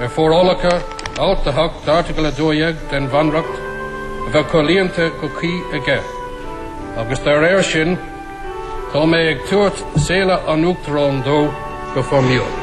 ar forálacha Alt 8 d'Airteagal 12 den Bhunreacht a bheith comhlíonta go cuí aige, agus dá réir sin tá mé ag tabhairt Séala an Uachtaráin dó go foirmiúil.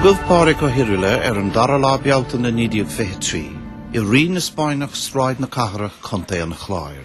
Rugadh Pádraig Ó hIrghile ar an 2ú lá Bealtaine 1923, i Rinn na Spáinneach, Sráid na Cathrach, Contae an Chláir.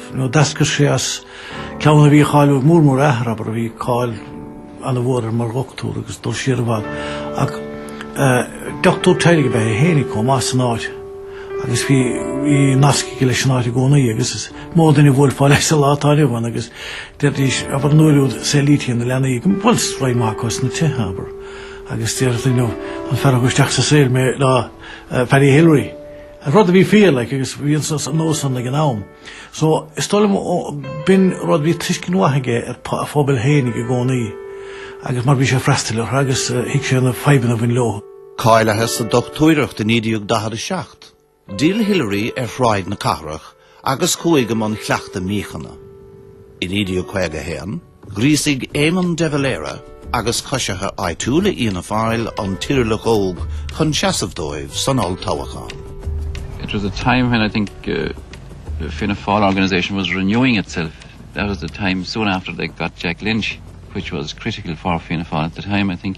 nó d'eascair sé as clann a bhí cáiliúil mór mór a athair abair bhí cáil ana mhór air mar dhochtúir agus dul siar i bhfad ach dochtúir teaghlaigh ab ea é féin chomh maith san áit agus bhí bhí nasc aige leis an áit i gcónaí agus is mó duine a bhuailfeá leis sa lá atá inniu ann agus deiridís abair an uair úd saolaítí na leanaí bhuel is roinnt mhaith acu sna tithe abair agus deireadh duine an fear a thug isteach sa saol mé ná Paddy Hillery Rud a bhí fíor, like, agus bhí an nós san ag an am. So, is dóigh liom b'in rud, bhí tuiscint mhaith aige ar a phobal fhéinig i gcónaí, agus mar bhí sé ag freastal orthu agus thuig sé na fadhbanna a bhain leo. Cáilithe sa dochtúireacht i 1947. D'fhill Hillery ar Shráid na Cathrach agus chuaigh i mbun chleachtadh míochaine. I 1951, ghríosaigh Éamon de Valera agus coisithe áitiúla Fhianna Fáil an tIrghileach óg chun seasamh dóibh san olltoghchán. It was a time when I think the Fianna Fáil organisation was renewing itself. That was the time soon after they got Jack Lynch, which was critical for Fianna Fáil at the time, I think.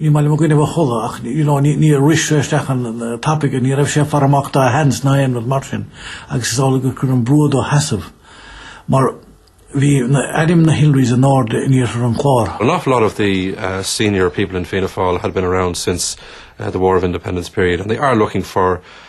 ní maith liom a gcoinnibh a chodladh ach you know, ní, níor rith sé isteach ann tapaidh ní raibh sé ag faire amach dá sheans ná aon rud mar sin agus is amhlaidh gur cuireadh brú air seasamh mar bhí ainm na Hillerys an-ard in iarthar an Chláir. An awful lot of the uh, senior people in Fianna Fáil had been around since uh, the War of Independence period and they are looking for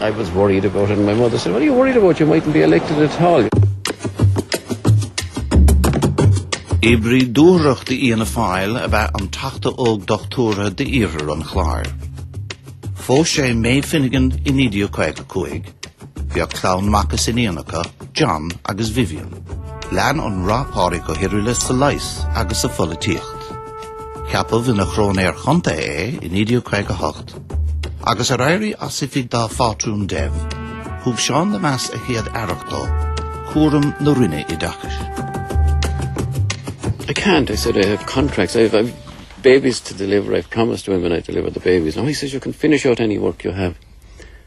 I was worried about it and my mother said, what are you worried about, you mightn't be elected at all. Oibrí dúthrachtach d'Fhianna Fáil ab ea an teachta óg dochtúra d'iarthar an Chláir. Phós sé Maeve Finnegan i 1955. Bheadh clann mac is iníon acu, John agus Vivienne. Lean an rath Pádraig Ó hIrghile sa leigheas agus sa pholaitíocht. Ceapadh ina Chróinéir Chontae é i 1958. Agus ar éirí as oifig dá phátrún Dev, thug Seán Lemass a chéad aireacht dó, cúram na Roinne Oideachais. I can't, I said, I have contracts, I have, I have babies to deliver, I've promised women I deliver the babies. No, he says, you can finish out any work you have.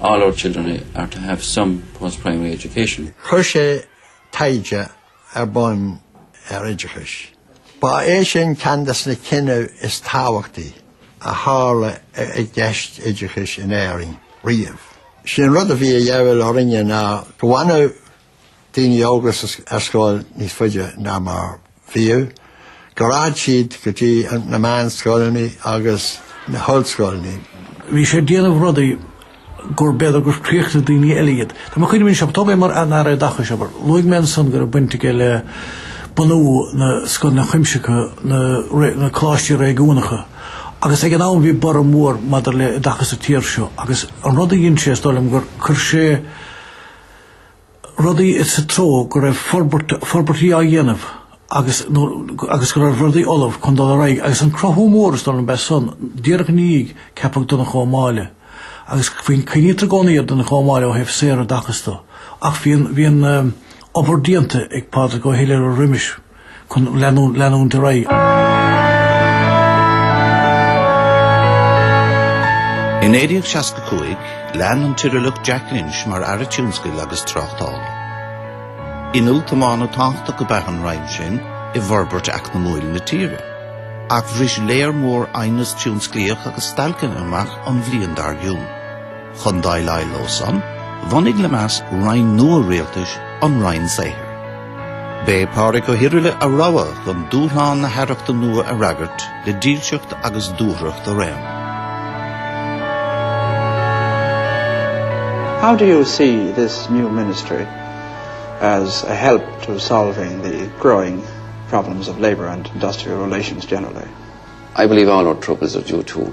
All our children are to have some post-primary education. Chuir sé taighde ar bun ar oideachas. Ba é sin ceann des na cinní is tábhachtaí a tharla i gceist an oideachais in Éirinn riamh. Sin rud a bhí de dhíobháil orainne ná go bhfanadh daoine óga ar scoil níos faide ná mar bhíodh, go raghadh siad go dtí na meánscoileanna agus na hollscoileanna. Bhí sé ag déanamh rudaí gur b'fhéidir gur chríochnaigh daoine eile iad. Tá mé ag cuimhneamh anseo, toghadh é mar an Aire Oideachais, abair, luaigh mé ansan go raibh baint aige le bunú na scoileanna cuimsitheacha, na na coláistí réigiúnacha, agus ag an am bhí borradh mór maidir le hoideachas sa tír seo agus an rud a dhein sé is dóigh liom gur chuir sé rudaí sa treo go raibh forbairt, forbairtí á dhéanamh agus, nó, agus go raibh rudaí ullamh chun dul ar aghaidh agus an cruthú mór is dóigh liom leis san, díreach ina dhiaidh, ceapadh Donncha Ó Máille. Agus faoin, cuimhnítear i gcónaí ar Donncha Ó Máille ó thaobh saoroideachais de. Ach bhí an, bhí an, obair déanta ag Pádraig Ó hIrghile roimis. chun leanúint ar aghaidh. I 1965, lean an tIrghileach Jack Lynch mar Aire Tionscail agus Tráchtála. Inneall tiomána tábhachtach ab ea an roinn sin i bhforbairt eacnamúil na tíre, ach bhris lear mór aighneas tionsclaíoch agus stailceanna amach an bhliain dár gcionn. Chun déileáil leo san, bhunaigh Lemass roinn nua rialtais, an Roinn Saothair. B'é Pádraig Ó hIrghile a rogha chun dúshlán na haireachta nua a fhreagairt le dílseacht agus dúthracht araon. How do you see this new ministry as a help to solving the growing problems of labour and industrial relations generally? I believe all our troubles are due to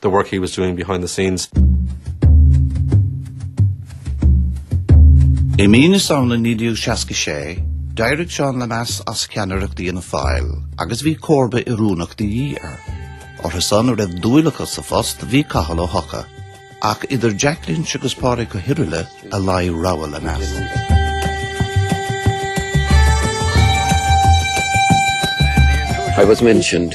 the work he was doing behind the scenes. I mí na Samhna 1966, d'éirigh Seán Lemass as ceannaireacht Fhianna Fáil agus bhí comharba oiriúnach de dhíth air. Orthu san a raibh dúil acu sa phost bhí Cathal Ó hEochaidh. Ach idir Jack Lynch agus Pádraig Ó hIrghile a luigh rogha Lemass. I was mentioned.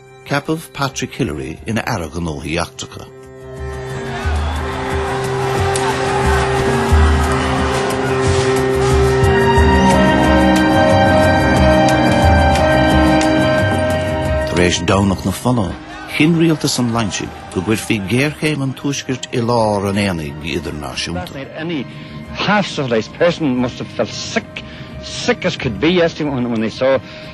Ceapadh Patrick Hillery ina Aire Gnóthaí Eachtracha. Tar éis Domhnach na Fola, chinn rialtas an Loinsigh go gcuirfí géarchéim an tuaiscirt i lár an aonaigh idirnáisiúnta. Any half-civilized person must have felt sick, sick as could be yesterday when, when they saw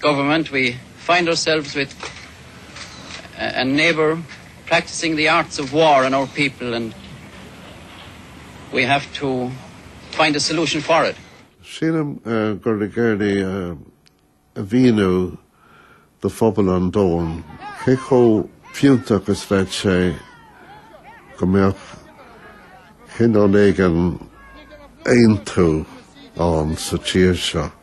government we find ourselves with a neighbour practising the arts of war on our people and we have to find a solution for it. Sílim gur thug Hillery a mhíniú do phobal an domhain cé chomh fiúntach is bheadh sé go mbeadh cineál éigin aontú ann sa tír seo.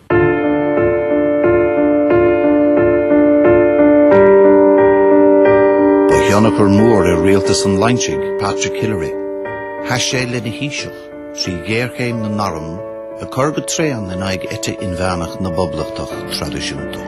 Ba thionchar mór ar rialtas an Loinsigh, Patrick Hillery. Sheas sé lena Thaoiseach trí ghéarchéim na n-arm ag cur go tréan in aghaidh eite inmheánach na bpoblachtach traidisiúnta.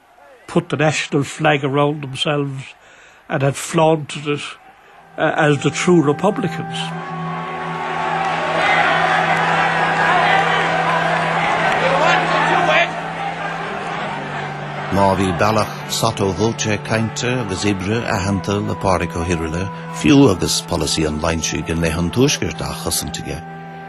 put the national flag around themselves and had flaunted it as the true republicans. Má bhí bealach sotto voce cainte agus oibre aitheanta le Pádraig Ó hIrighile, fiú agus polasaí an Loinsigh i leith an Tuaiscirt á chosaint aige,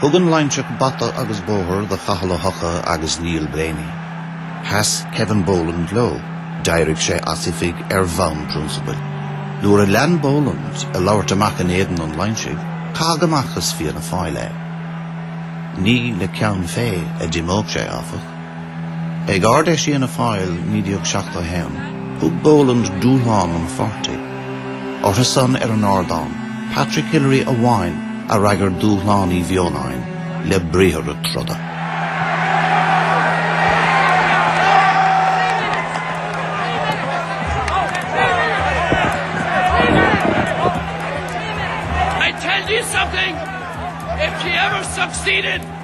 Thug an Loinseach bata agus bóthar do Chathal Ó hEocha agus Neil Blaney. Sheas Kevin Boland leo. D'éirigh sé as oifig ar bhonn prionsabail. Nuair a lean Boland ag labhairt amach in éadan an Loinsigh, caitheadh amach as Fianna Fáil é. Ní le ceann fé a d'imeodh sé, áfach. Ag Ard-Fheis Fhianna Fáil 1971, thug Boland dúshlán an pháirtí. Orthusan ar an ardán, Patrick Hillery amháin a fhreagair dúshlán Uí Bheoláin le briathra troda.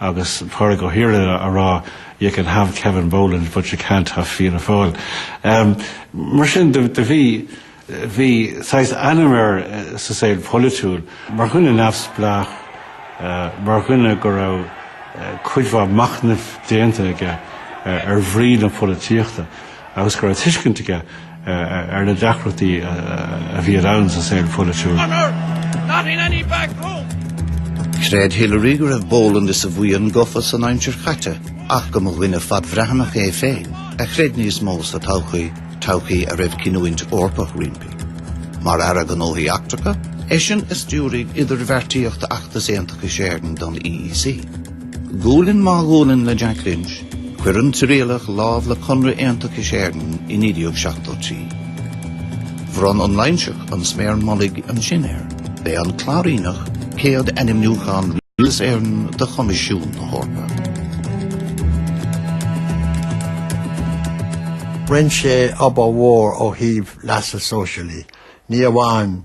Agus Pádraig Ó hIrighile ag rá you can have Kevin Boland but you can't have Fianna Fáil. Mar sin de bhí bhí saghas ainm air sa saol polaitiúil mar dhuine neamhspleách, mar dhuine go raibh cuid mhaith machnaimh déanta aige ar bhrí na polaitíochta. agus go raibh tuiscint aige ar na deacrachtaí a bhí around sa saol pholaitiúil. Chreid Hillery go raibh Boland is a bhuíon gafa san aimsir chaite ach go mba dhuine fadbhreathnach é féin a chreid níos mó sa todhchaí, todhchaí a raibh cinniúint Eorpach roimpi. Mar Aire Gnóthaí Eachtracha, eisean a stiúraigh idirbheartaíocht Acht Aontachais Éireann don EEC. Gualainn má gualainn le Jack Lynch, Chuir an tIrighileach lámh le Conradh Aontachais Éireann i 1973. Bhronn an Loingseach an sméar mullaigh ansin air. B'é an Cláiríneach céad ainmniúchán Rialtas Éireann do Choimisiún na hEorpa. Rinne sé obair mhór ó thaobh leasa sóisialaí, ní amháin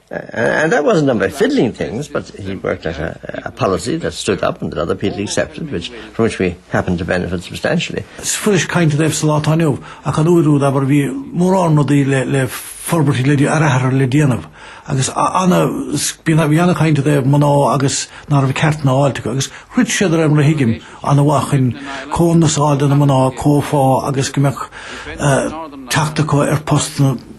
And that wasn't done by fiddling things, but he worked out a, a policy that stood up and that other people accepted, which, from which we happen to benefit substantially. Is fuirist caint daoibh sa lá atá inniu, ach an uair úd, abair, bhí mórán rudaí le, le forbairtí le, athruithe le déanamh, agus ana, bhí, bhí an-chaint i dtaobh mná agus ná raibh ceart ná fáilte acu, agus throid sé de réir mar a thuigim, ana mhaith chun comhionannas a fháil do na mná, comhphá agus go mbeadh, uh, teacht acu ar postanna.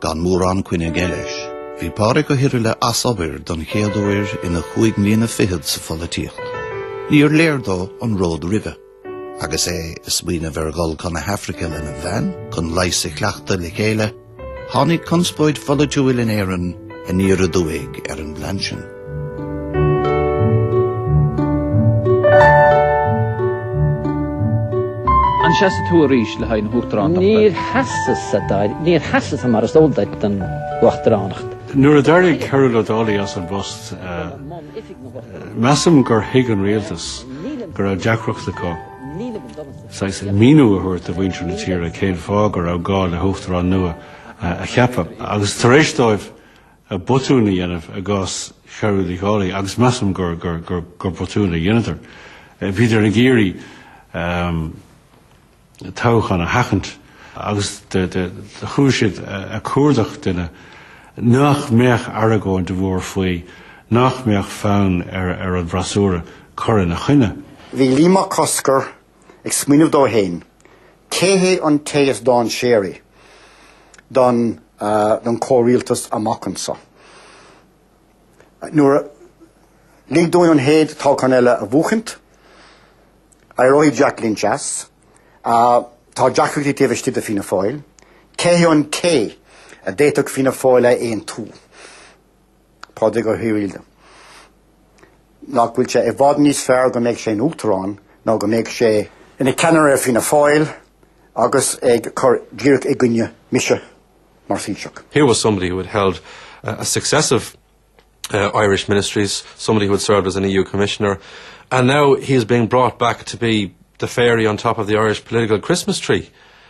Gan mórán coinne aige leis, bhí Pádraig Ó hIrighile as obair don chéad uair ina chúig mbliana fichead sa pholaitíocht. Níor léir dó an ród roimhe. Agus é ag smaoineamh ar dhul chun na hAfraice lena bhean chun leigheas a chleachtadh le chéile, tháinig conspóid pholaitiúil in Éirinn aniar aduaidh ar an bplean sin. An seasfaidh tú arís le haghaidh na hUachtaránachta? Níor sheasas, mar is eol duit don Uachtaránacht. Nuair a d'éirigh Cearbhall Ó Dálaigh as an bpost, measaim gur thuig an rialtas go raibh deacracht acu saghas míniú a thabhairt do mhuintir na tíre cén fáth go raibh gá le hUachtarán nua a cheapadh agus tar éis dóibh a botún a dhéanamh i gcás Chearbhaill Uí Dhálaigh, agus measaim gur botún a dheineadar. Bhíodar ag iarraidh toghchán a sheachaint agus do chuaigh siad ag cuardach duine nach mbeadh argóint mhór faoi, nach mbeadh fonn ar an bhfreasúra cur ina choinne. Bhí Liam Mac Cosgair ag smaoineamh dó féin, cé hé an té is dainséaraí don chomhrialtas amach anseo. Nuair a lig dúinn an chéad toghchán eile a bhuachaint, éireoidh Jack Lynch as. Tá deacrachtaí taobh istigh de Fianna Fáil. Cé hé an té a d'fhéadfadh Fianna Fáil a aontú? Pádraig Ó hIrighile, nach bhfuil sé i bhfad níos fearr go mbeidh sé ina Uachtarán ná go mbeidh sé ina cheannaire ar Fianna Fáil agus ag cur díreach i gcoinne mise mar Thaoiseach. Here was somebody who had held uh, a successive uh, Irish ministries, somebody who had served as an EU commissioner, and now he is being brought back to be the fairy on top of the Irish political Christmas tree.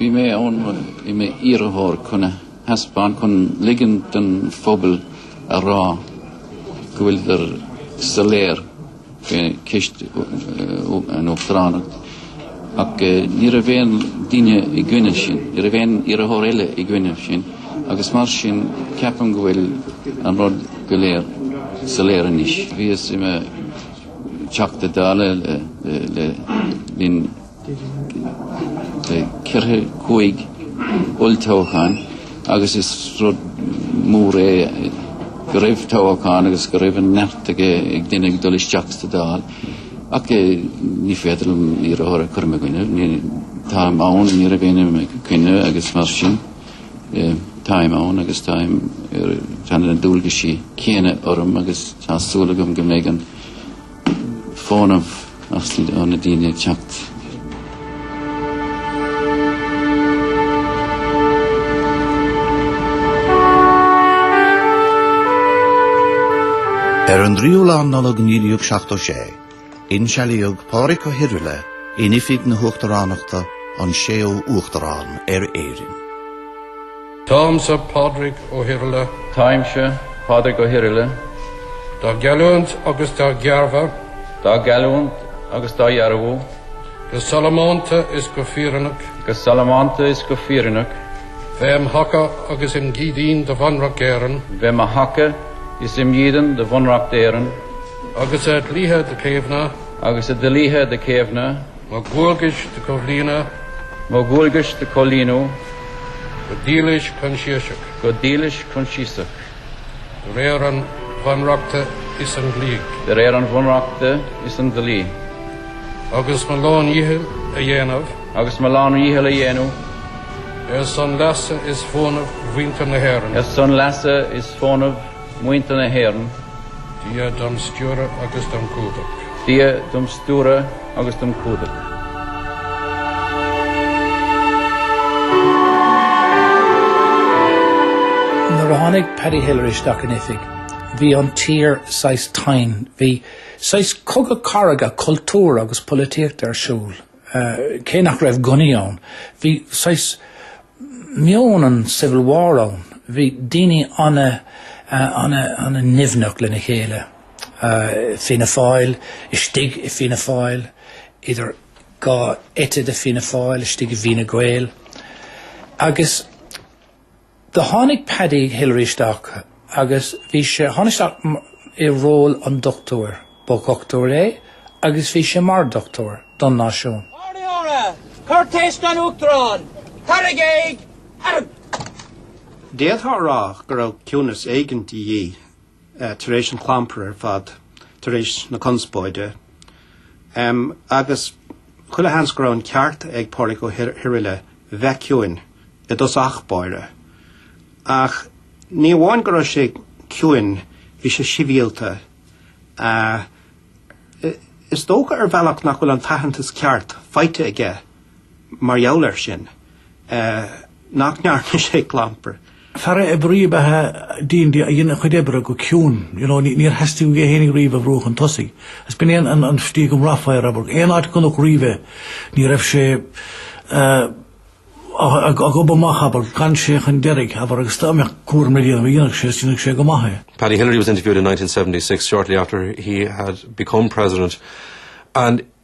Bhí mé ann, bhí mé i m'iarrthóir chun a thaispeáint, chun ligean don phobal a rá go bhfuileadar soiléir faoi ceist an Uachtaránacht. Ach ní raibh aon duine i gcoinne sin, ní raibh aon iarrthóir eile i gcoinne sin, agus mar sin ceapann go bhfuil an rud go léir soiléir anois. Bhíos i mo Theachta Dála le linn Ceithre cúig olltoghchán agus is rud mór é go raibh toghchán agus go raibh an neart ag duine ag dul isteach sa Dáil ach ní féidir liom iarrthóir a chur i mo choinne. Táim ann, ní raibh éinne i mo choinne agus mar sin táim ann agus táim tá na dualgaisí céanna orm agus tá súil agam go mbeidh an fónamh as ó na daoine ag teacht. Ar an dtríú lá Nollag 1976, insealaíodh Pádraig Ó hIrghile in oifig na hUachtaránachta, an séú Uachtarán ar Éirinn. Táimse Pádraig Ó hIrghile. Táimse Pádraig Ó hIrghile. Dá gheallúint agus dá dhearbhú. Dá gheallúint agus dá dhearbhú. Go sollamanta is go fírinneach. Go sollamanta is go fírinneach. Bheith im thaca agus im dhídin do Bhunreacht Éireann. Bheith im thaca is im dhídean do Bhunreacht Éireann. Agus a dhlíthe do chaomhnadh. Agus a dhlíthe do chaomhnadh. mo dhualgais do chomhlíonadh. mo dhualgais do chomhlíonadh. go dílis coinsiasach. go dílis coinsiasach. de réir an Bhunreachta is an dlí. de réir an Bhunreachta is an dlí. agus mo lándhícheall a dhéanamh. agus mo lándhícheall a dhéanamh. ar son leasa is fónamh mhuintir na hÉireann. ar son leasa is fónamh. Muintir na hÉireann. Dia dom stiúradh agus dom cumhdach. Dia dom stiúradh agus dom cumhdach. Nuair a tháinig Paddy Hillery isteach in oifig, bhí an tír saghas tinn, bhí saghas cogadh cathartha cultúir agus polaitíochta ar siúl. cé nach raibh gunnaí ann, bhí saghas meon an Civil War ann, bhí daoine an-nimhneach lena chéile. Fianna Fáil istigh i Fianna Fáil, idir dhá eite de Fianna Fáil istigh i bhFine Gael agus, Do tháinig Paddy Hillery isteach agus bhí sé, tháinig isteach i ról an dochtúra, ba dhochtúir é agus bhí sé mar dochtúir don náisiún. Ard-Aire! Cuirtéis don Uachtarán! Cur i gcéill! Arrgh! D'fhéadfá a rá go raibh ciúnas éigint de dhíth tar éis an chlampair ar fad, tar éis na conspóide, agus chuile sheans go raibh an ceart ag Pádraig Ó hIrighile bheith ciúin i dtosach báire. Ach ní amháin go raibh sé ciúin, bhí sé sibhialta. Is dócha ar bhealach nach bhfuil an t-aitheantas ceart faighte aige mar gheall air sin. nach ndearna sé clampar. Fear ab ea riamh a dhein, a dhein a chuid oibre go ciúin, níor theastaigh uaidh é fhéinig riamh a bhrú chun tosaigh. Is b'in é an stíl go mbraithfeá air, abair. Aon áit a gconac riamh é, ní raibh sé ag gobadh amach, abair, d'fhan sé chun deiridh, abair, agus dá mbeadh cúram le déanamh dhéanfadh sé is dhéanfadh sé go maith é. Paddy Hillery was interviewed in 1976, shortly after he had become president, and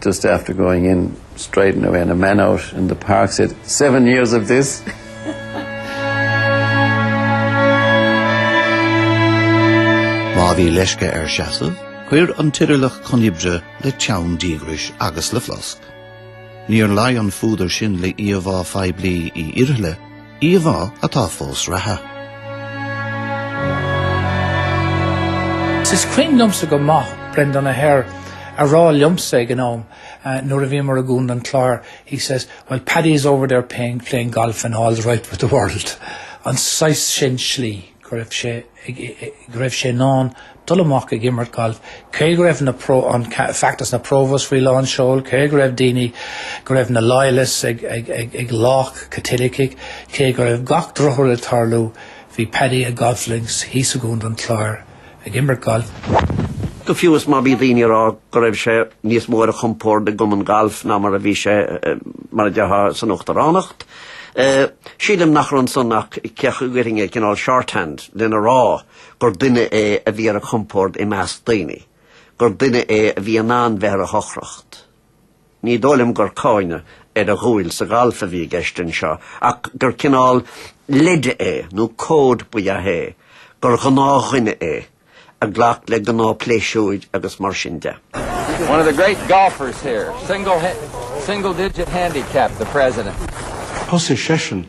Just after going in striding away and a man out in the park said, seven years of this. Má bhí leisce air seasamh, chuaigh an tIrighileach chun oibre le teann díograis agus le flosc. Níor luigh an fuadar sin le íomhá phoiblí Uí Irighile, Íomhá atá fós i réim. Is cuimhin liomsa go maith Breandán Ó hEithir a rá liomsa ag an am nuair a bhíomar i gContae an Chláir, he says, well Paddy is over there playing golf and all's right with the world. An saghas sin slí. go raibh sé ag, go raibh sé in ann dul amach ag imirt gailf, cé go raibh na pro, an feachtas na Provos faoi lán seoil, cé go raibh daoine, go raibh na loyalists ag, ag, ag, ag lámhach Caitilicigh, cé go raibh gach drochrud ag tarlú, bhí Paddy ar golf links thíos i gContae an Chláir. ag imirt gailf. Go fiú's má bhí daoine ag rá go raibh sé níos mó ar a chompord i gcumann gailf ná mar a bhí sé, mar a déarfá, san uachtaránacht, sílim nach raibh ansin ach cleas cainte, cineál shorthand, lena rá gur duine é a bhí ar a chompord i measc daoine, gur duine é a bhí in ann bheith ar a shocracht. Ní dóigh liom gur cáineadh ar a dhúil sa ghalf a bhí i gceist anseo, ach gur cineál leide é, nó cód ba ea é, gur ghnáthdhuine é, a ghlac le gnáthphléisiúir agus mar sin de. One of the great golfers here, single, single digit handicap, the president. Thosaigh seisean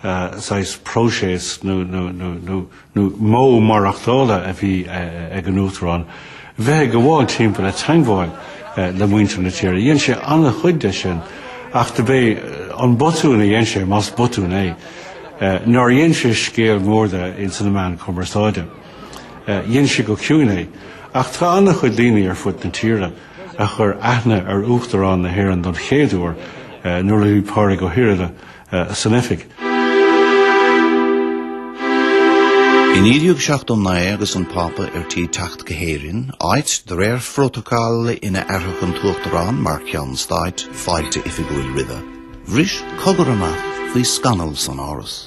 saghas próiseas nó modh maireachtála a bhí ag an Uachtarán, bheith ag gabháil timpeall ag teagmháil le muintir na tíre. Dhein sé an-chuid de sin, ach dob é an botún a dhein sé, más botún é, nár dhein sé scéal mór de ins na meáin chumarsáide. Dhein sé go ciúin é. Ach tá an-chuid daoine ar fud na tíre a chuir aithne ar Uachtarán na hÉireann don chéad uair nuair a bhí Pádraig Ó hIrighile san oifig. I 1979 agus an Pápa ar tí teacht go hÉirinn, áit de réir phrótacal ina fhearfadh an tUachtarán mar cheann stáit fáilte oifigiúil roimhe, bhris cogar amach faoi scannal san Áras.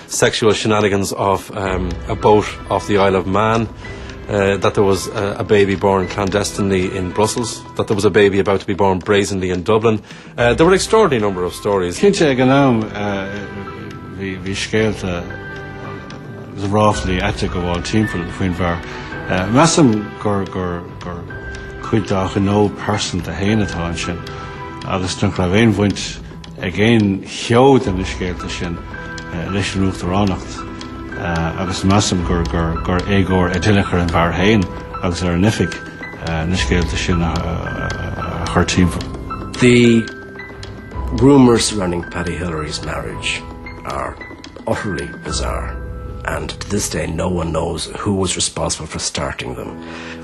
sexual shenanigans off a boat off the Isle of Man, that there was a baby born clandestinely in Brussels, that there was a baby about to be born brazenly in Dublin. There were an extraordinary number of stories. Cinnte, ag an am, bhí scéalta agus ráflaí aite ag gabháil timpeall faoin bhfear. Measaim gur cuid dá ghnó pearsanta héin atá ansin agus nach raibh aon bhaint ag aon cheo de na scéalta sin leis an Uachtaránacht agus measaim gur éagóir i dtaobh clú ar an bhfear héin agus ar an oifig na scéalta sin a chur timpeall. The rumours surrounding Paddy Hillery's marriage are utterly bizarre and to this day no one knows who was responsible for starting them.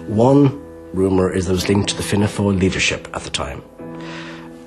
One rumour is that it was linked to the Fianna Fáil leadership at the time.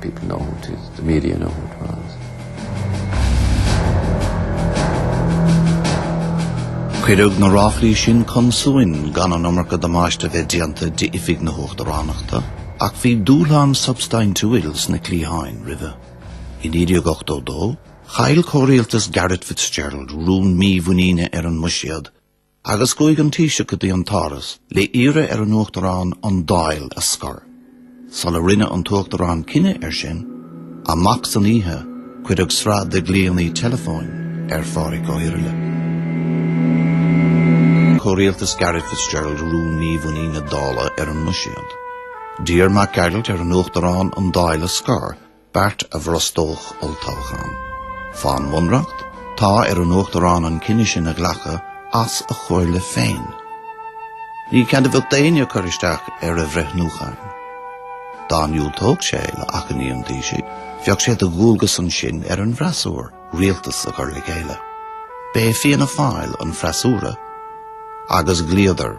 People know who it is. The media know who it was. Cuireadh na ráflaí sin chun suain gan an iomarca damáiste a bheith déanta d'oifig na hUachtaránachta, ach bhí dúshlán substaintiúil sna cliatháin roimhe. I 1982, chaill comhrialtas Garret Fitzgerald rún mímhuiníne ar an mbuiséad Agus chuaigh an Taoiseach go dtí an tÁras le hiarraidh ar an Uachtarán an Dáil a scor. Sula rinne an tUachtarán cinneadh air sin, amach san oíche cuireadh sraith de ghlaoanna teileafóin ar Phádraig Ó hIrighile. Comhrialtas Garret Fitzgerald rún mímhuiníne na Dála ar an mbuiséad. D'iarr Mac Gearailt ar an Uachtarán an Dáil a scor beart a bhrostódh olltoghchán. Fán bhunreacht, tá ar an Uachtarán an cinneadh sin a ghlacadh as a chomhairle féin. Ní cead a bheadh ag éinne cur isteach ar a bhreithniúcháin. Dá ndiúltódh sé le achainí an Taoisigh, bheadh sé de dhualgas ansin ar an bhfreasúra rialtas a chur le chéile. B'é Fianna Fáil an freasúra, agus ghlaodar.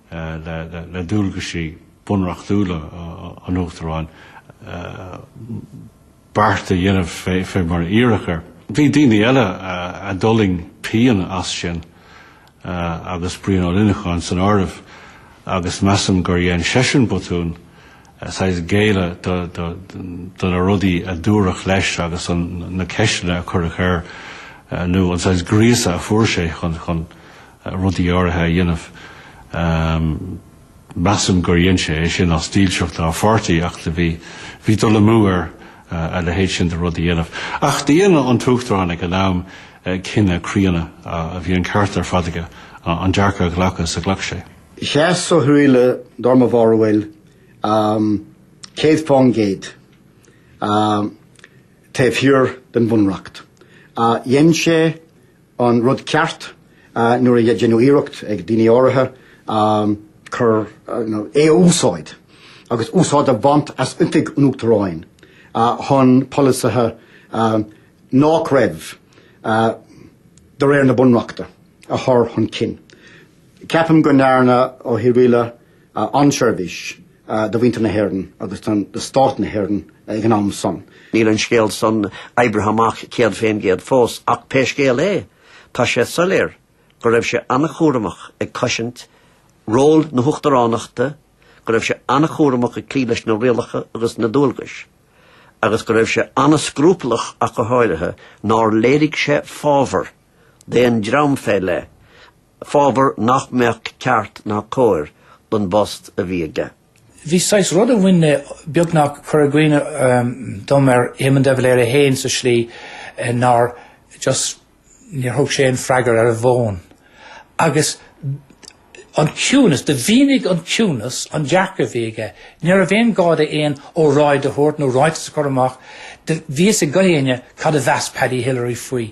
le dualgaisí bunreachtúla an Uachtaráin beart a dhéanamh fé mar a iarradh air. Bhí daoine eile a d'fhulaing pian as sin agus Brian Ó Luineacháin san áireamh agus measaim gur dhein seisean botún saghas géilleadh do na rudaí a dúradh leis agus na ceisteanna a cuireadh air nó an saghas gríosadh a fuair sé chun rudaí áirithe a dhéanamh. Measaim gur dhein sé é sin as dílseacht dá pháirtí, ach bhí bhí dul amú air a leithéid sin de rud a dhéanamh. Ach do dhein an tUachtarán ag an am cinneadh críonna, a bhí an ceart ar fad aige, an dearcadh a ghlacadh is a ghlac sé. Sheas Ó hIrghile dar mo bharúil céad fán gcéad taobh thiar den Bhunreacht. Dhein sé. an rud ceart nuair a deineadh iarracht ag daoine áirithe cur, nó é a úsáid agus úsáid a bhaint as oifig an Uachtaráin chun polasaithe nách raibh de réir na Bunreachta a chur chun cinn. Ceapaim go ndearna Ó hIrghile an-seirbhís do mhuintir na hÉireann agus do stát na hÉireann ag an am san. Níl an scéal san oibrithe amach céad fén gcéad fós ach pé scéal é tá sé soiléir go raibh sé an-chúramach ag cosaint ról na hUachtaránachta, go raibh sé an-chúramach ag cloí leis na rialacha agus na dualgais, agus go raibh sé an-scrupallach ach go háirithe nár léirigh sé fábhar d'aon dream fé leith. fábhar nach mbeadh ceart ná cóir don bpost a bhí aige. Bhí saghas rud a bhain le beagnach cur i gcuimhne dom ar Éamon de Valera fhéin sa slí nár just níor thug sé aon freagar ar an bhfón agus an ciúnas, do mhínigh an ciúnas an dearcadh a bhí aige. Ní raibh aon gá dó aon óráid a thabhairt nó ráiteas a chur amach, do bhí fhios ag gach éinne cad a mheas Paddy Hillery faoi.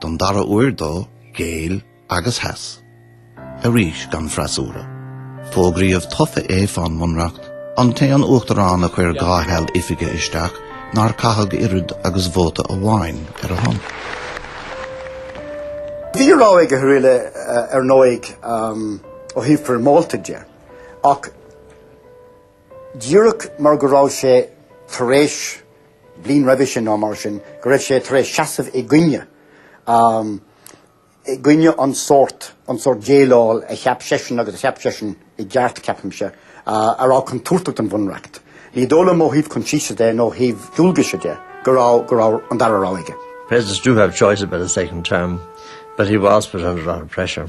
Don dara huair dó, ghéill agus sheas. Arís gan freasúra. Fógraíodh tofa é fán mBunreacht, an t-aon uachtarán a chuir dhá sheal oifige isteach nár caitheadh oiread agus vóta amháin ar a shon. Bhí rogha ag Ó hIrghile ar ndóigh ó thaobh foirmeálta de, ach. díreach mar go raibh sé tar éis, bliain roimhe sin nó mar sin, go raibh sé tar éis seasamh i gcoinne, i gcoinne an sórt, an sórt déileáil a cheap seisean agus a cheap seisean i gceart, ceapaimse, a raibh contúirteach don Bhunreacht. Ní dóigh liom ó thaobh coinsiasa de nó ó thaobh dualgaise de go raibh, go raibh an dara rogha aige. Presidents do have choices about a second term, but he was put under a lot of pressure.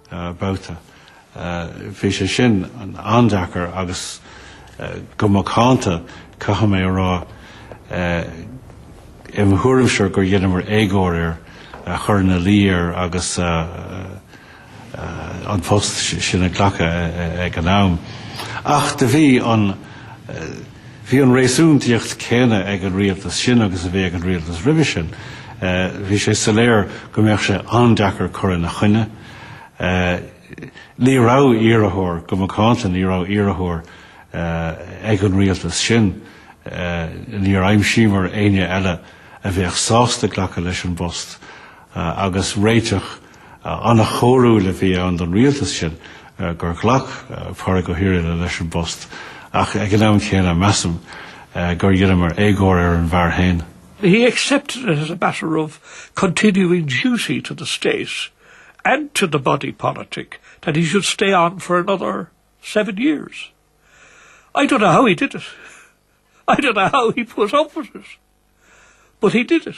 babhta. Bhí sé sin an-deacair agus go macánta caithfidh mé a rá im thuairimse gur dheineamar éagóir air é a chur ina luí air agus an post sin a ghlacadh ag an am. Ach do bhí an Bhí an réasúntaíocht chéanna ag an rialtas sin agus a bhí ag an rialtas roimhe sin. Bhí sé soiléir go mbeadh sé an-deacair cur ina choinne. Ní raibh iarrthóir, go macánta ní raibh iarrthóir ag an rialtas sin. Níor aimsíomar éinne eile a bheadh sásta glacadh leis an bpost agus réiteach, An-chóiriúil a bhí ann don rialtas sin gur ghlac Pádraig Ó hIrghile leis an bpost, ach ag an am céanna, measaim gur dheineamar éagóir ar an bhfear féin. He accepted it as a matter of continuing duty to the State and to the body politic that he should stay on for another seven years. I don't know how he did it. I don't know how he put up with it. But he did it.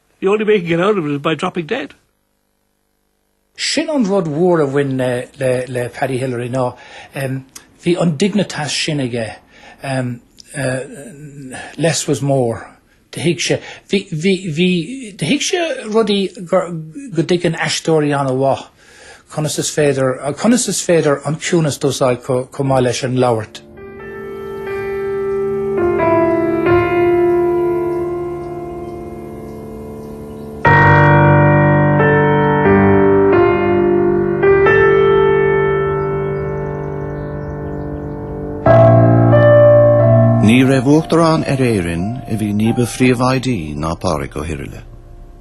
The only way you can get out of it is by dropping dead. Sin an rud mhór a bhain le, le, le Paddy Hillery ná, bhí an dignitas sin aige, less was more, do thuig sé, bhí, bhí, bhí, do thuig sé rudaí go dtuigeann aisteoirí ana-mhaith. Conas is féidir, conas is féidir an ciúnas d'úsáid chomh maith leis an labhairt? Ní raibh Uachtarán ar Éirinn a bhí ní ba phríobháidí ná Pádraig Ó hIrghile.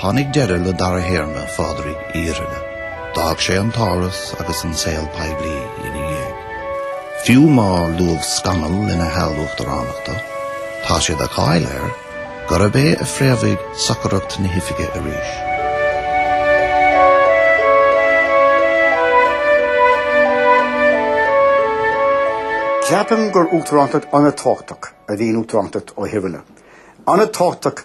Tháinig deireadh le dara théarma Phádraig Uí Irghile. D'fhág sé an tÁras agus an saol poiblí ina dhiaidh. Fiú má luadh scannal lena sheal uachtaránachta, tá sé de cháil air gurb é a phréamhaigh socracht na hoifige arís. Ceapaim gur uachtarántacht an-tábhachtach a bhí in uachtarántacht Uí Irghile. An-tábhachtach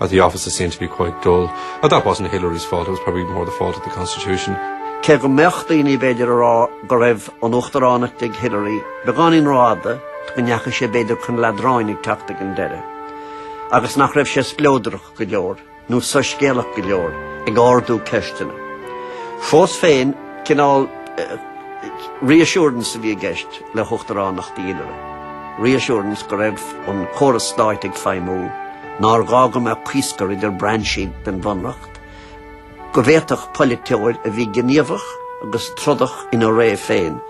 At the office is seen to be quite dull. Now that wasn't Hillery's fault, it was probably more the fault of the constitution. Cé go mbeadh daoine, b'fhéidir, a rá go raibh an Uachtaránacht ag Hillery beagáinín rófhada, go ndeachaigh sé, b'fhéidir, chun leadráin ag teacht ag an deireadh, agus nach raibh sé spleodrach go leor, nó soiscéalach go leor, ag ardú ceisteanna. Fós féin, cineál reassurance a bhí i gceist le huachtaránacht Hillery, reassurance go raibh an córas stáit ag feidhmiú, nár ghá go mbeadh cuisciar idir brainsí den bhunreacht, go bhféadfadh polaiteoir a bhí gníomhach agus trodach ina ré féin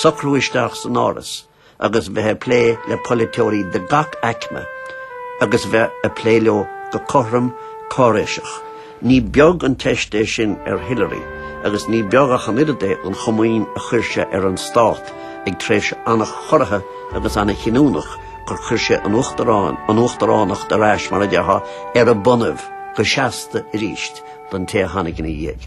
socrú isteach san Áras agus bheith ag plé le polaiteoirí de gach aicme agus bheith ag plé leo go cothrom cáiréiseach. Ní beag an teist é sin ar Hillary agus ní beag ach an oiread é an chomaoin a chuir sé ar an stát ag tréimhse an-chorraithe agus an-chinniúnach gur chuir sé an uachtaráin, an uachtaránacht ar ais, mar a déarfá, ar a bonnaibh go seasta arís don té a tháinig ina dhiaidh.